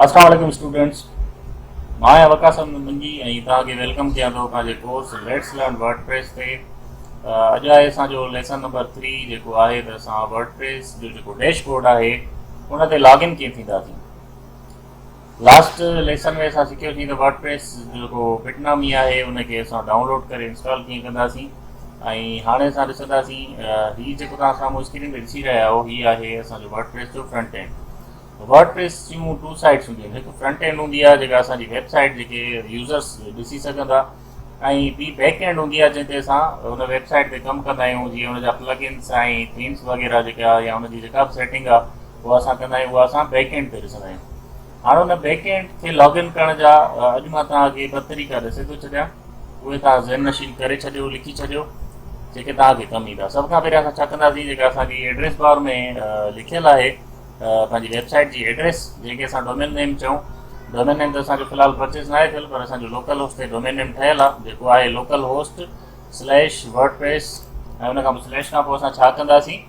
اسلام عليڪم اسٽوڊنٽس مان آهيان وقاص احمد منجي ۽ توهان کي ويلڪم ڪيان ٿو اسان جي course let's learn WordPress تي اڄ آهي اسان جو ليسن نمبر ٿري جيڪو آهي ته اسان ورڊ پريس جو جيڪو ڊيش بورڊ آهي ان تي لاگ ان ڪيئن ٿينداسين لاسٽ ليسن ۾ اسان سکيو سين ته ورڊ پريس جيڪو بٽ نامي آهي ان کي اسان ڊائون لوڊ ڪري انسٽال ڪيئن ڪنداسين ۽ هاڻي اسان ڏسنداسين هي جيڪو توهان سامهون اسڪرين تي ڏسي رهيا آهو هي آهي اسان جو ورڊ پريس جو فرنٽ اينڊ ورڊ پريس جون ٽو سائيڊس هونديون آهن هڪ فرنٽ اينڊ هوندي آهي جيڪا اسان جي ويب سائيٽ جيڪي يوزرس ڏسي سگهندا ۽ ٻي بيڪ اينڊ هوندي آهي جنهن تي اسان هن ويب سائيٽ تي ڪم ڪندا آهيون جيئن ان جا پلگ انس ۽ ٿيمس وغيره جيڪا يا ان جي جيڪا به سيٽنگ آهي اها اسان ڪندا آهيون اها اسان بيڪ اينڊ تي ڏسندا آهيون هاڻ ان بيڪ اينڊ کي لاگ ان ڪرڻ جا اڄ مان توهان کي ٻه طريقا ڏسي ٿو ڇڏيان اهي توهان ذهن نشين ڪري ڇڏيو لکي ڇڏيو جيڪي توهان کي ڪم ايندا سڀ کان پهريان اسان ڇا ڪنداسين جيڪا اسانجي ايڊريس بار ۾ لکيل آهي پنهنجي ويب سائيٽ جي ايڊريس جنهن کي اسان ڊومين نيم چئون ڊومين نيم ته اسان جو في الحال پرچيز ناهي ٿيل پر اسان جو لوڪل هوسٽ تي ڊومين نيم ٺهيل آهي جيڪو آهي localhost slash WordPress ۽ ان کان پوء سليش کان پوء اسان ڇا ڪنداسين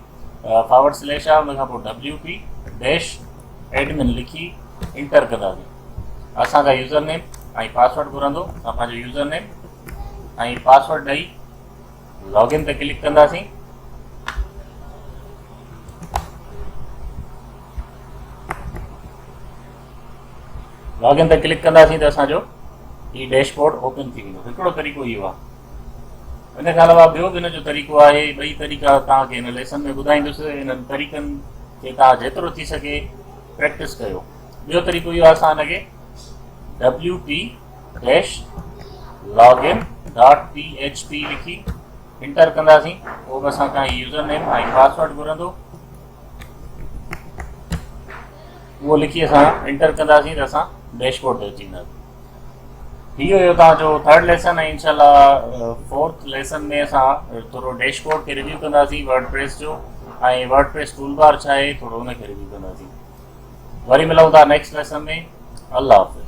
فارورڊ سليش آ ان کان پوء ڊبليو پي ڊيش ايڊمن لکي انٽر ڪنداسين اسان کان يوزر نيم ۽ پاسورڊ گهرندو اسان پنهنجو يوزر نيم ۽ پاسورڊ ڏئي لاگ ان تي ڪلڪ ڪنداسين. لاگ ان تي ڪلڪ ڪنداسين ته اسان جو هي ڊيش بورڊ اوپن ٿي ويندو هڪڙو طريقو اهو آهي ان کان علاوه ٻيو به ان جو طريقو آهي ٻئي طريقا توهان کي هن ليسن ۾ ٻڌائيندس انهن طريقن کي توهان جيترو ٿي سگهي پريڪٽس ڪيو ٻيو طريقو اهو آهي اسان هن کي W P slash log in dot P H P لکي انٽر ڪنداسين پوء به اسان کان يوزر نيم ۽ پاسورڊ گهرندو اهو لکي اسان انٽر ڪنداسين ته اسان ڊيشبورڊ تي اچي وينداسين هي هيو تان جو ٿرڊ ليسن ۽ انشاءالله فورٿ ليسن ۾ اسان ٿورو ڊيش بورڊ کي ريويو ڪنداسين ورڊ پريس جو ۽ ورڊ پريس ٽول بار ڇا آهي ٿورو ان کي ريويو ڪنداسين وري ملون ٿا نيڪسٽ ليسن ۾ الله حافظ